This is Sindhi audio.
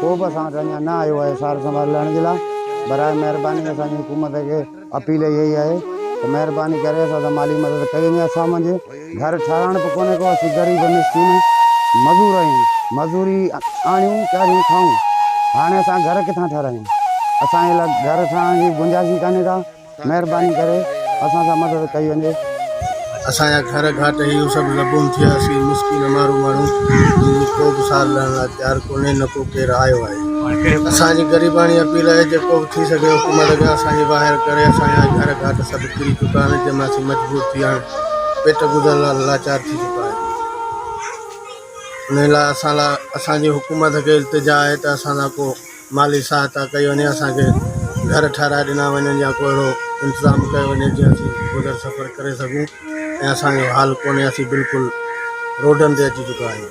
ڪو به اسان وٽ اڃا نه آيو آهي سار سنڀال لهڻ جي لاء برائي مهرباني اسان جي حڪومت کي اپيل اها ئي آهي ته مهرباني ڪري اسان سان مالي مدد ڪئي وڃي اسان منجهه گهر ٺهرائڻ به ڪونهي ڪو اسين غريب مسڪين مزور آهيون مزوري آڻيون چاريون کائون هاڻي اسان گهر ڪٿان ٺهرايون اسان جي لاء گهر ٺهرائڻ جي گنجائش ئي ڪانهي ڪا مهرباني ڪري اسان سان مدد ڪئي وڃي. اسان جا گهر گهاٽ هيو سڀ لبون ٿيا اسين مسڪين امارو ماڻهو جن جي ڪو به سار لهڻ لاء تيار ڪونهي نه ڪو ڪير آيو آهي اسان جي غريباڻي اپيل آهي جيڪو به ٿي سگهي حڪومت اڳيان اسان جي واهر ڪري اسان جا گهر گهاٽ سڀ ڪري چڪا آهن جنهن مان اسين مجبور ٿي هاڻ پيٽ گذر لاء لاچار ٿي چڪا آهيون انهي لاء اسان لاء اسان جي حڪومت کي التجا آهي ته اسان لاء ڪو مالي سهائتا ڪئي وڃي اسان کي گهر ٺهرائي ڏنا وڃن يا ڪو اهڙو انتظام ڪيو وڃي جيئن اسين گذر سفر ڪري سگهون ۽ اسان جو حال ڪونهي اسين بلڪل روڊن تي اچي چڪا آهيون